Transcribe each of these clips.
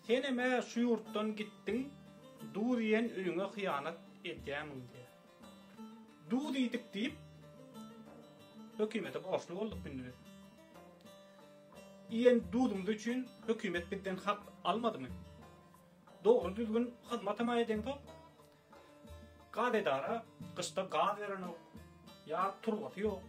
Senem-ä şu ýurtdan gitdiň, duz iýen öýüňe hyýanat edýämiň diýýä. Duz iýdik diýip, hökümete borçly bolduk indi biz. Iýen duzumyz üçin hökümet bizden hak almadymy? Dogry-düzgün hyzmatam-a edeňzok. Gaz edara gyşda gaz berenok ýa turbasy ýok.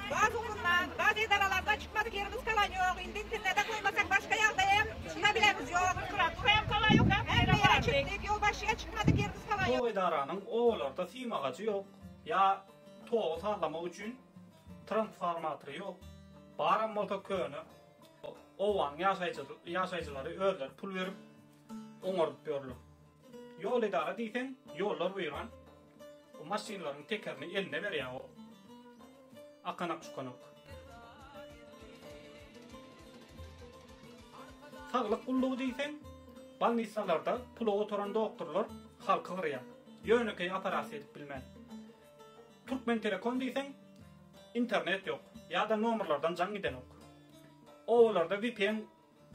Gaz ugrundan gaz edaralarda çykmaly gerimiz kalan ýok indi internede goýmasak başga ýagda hem çyka bilerimiz ýok. Hemme ýere çykdyk ýolbaşçyya çykmaly gerimiz kalan ýok. Tok edaranyň obalarda sim agajy ýok ýa togy sazlamak üçin transformatory ýok baram bolsa köne obanyň ýaşaýjylary özleri pul berip oňardyp ýörler. Ýol edara diýseň ýollar weýran o maşynlaryň tekerini eline berýä o akanak çukanak. Saglyk gullugy diýseň balnissalarda pula oturan doktorlar halky gyrýa ýönekeý operasiýa edip bilmän. Türkmentelekom diýseň internet ýok ýada nomerlardan jaň gidenok. Obalarda vpn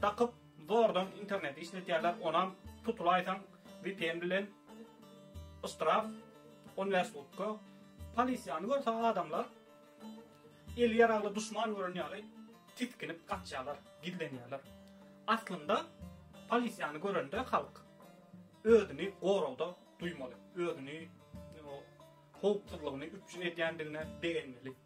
Dakyp zordan interneti işletýärler onam tutulaýsaň vpn bilen yştraf on bäş sutka polisiýany görse adamlar eli ýaragly duşman gören ýaly tisginip gaçýarlar gizlenýärler aslynda polisiýany görende halk özüni goragda duýmaly özüni howpsuzlygyny üpjün edýändigine begenmeli.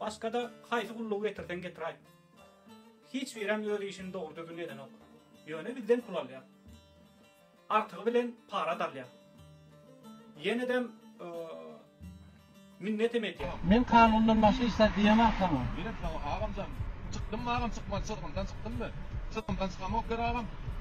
Başga-da haýsy gullugy getirseň getiraý. Hiç birem öz işini dogry-düzgün edenok. Ýöne bizden pul alýar. Artygy bilen para-da alýar. Ýene-dem minnetem edýär. Men kanundan başga hiç zat diýemok saňa. Diýemok saňa, agamjan. Çykdymmy, agam, çykmaly çyzgyndan çykdymmy? Çyzgyndan çykamok der, agam.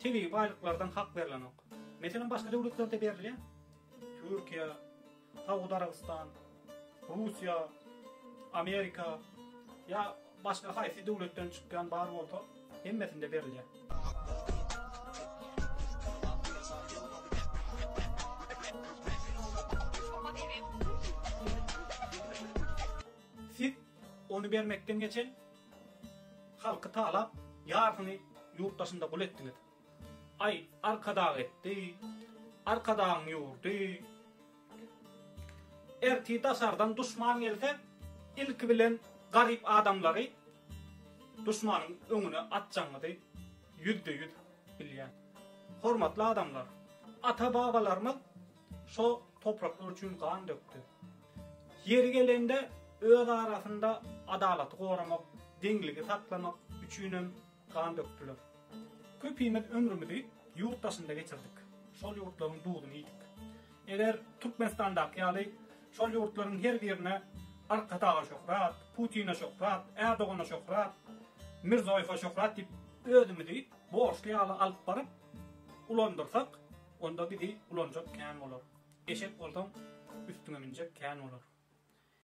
Tebigy baýlyklardan hak berlenok. Meselem başga döwletlerde berilýä. Türkiýe, Saud Arabystan, Russiýa, Amerika ýa başga haýsy döwletden çykýan bar bolsa hemmesinde berilýä. Siz ony bermekden geçen Halky talap, ýarsyny ýurt daşynda gul etdiňiz. Aý, Arkadag etdi, Arkadagyň ýurdy. Ertir daşardan duşman gelse, ilki bilen garyp adamlary duşmanyň öňüne atjagyňyzy ýüzde-ýüz bilýän. Hormatly adamlar, ata-babalarymyz şo topraklar üçin gan dökdi. Ýeri gelende öz arasynda adalaty goramak, deňligi saklamak üçinem gan dökdüler. Köpimiz ömrümizi ýurt daşynda geçirdik, şol ýurtlaryň duzuny iýdik. Eger Türkmenistandaky ýaly şol ýurtlaryň her birine Arkadaga şöhrat, Putine şöhrat, Ärdogana şöhrat, Mirzoýewe şöhrat diýip özümizi borçly ýaly alyp baryp ulandyrsak, Onda bizi ulanjak kän bolar. Eşek bolsaň, üstüňe münjek kän bolar.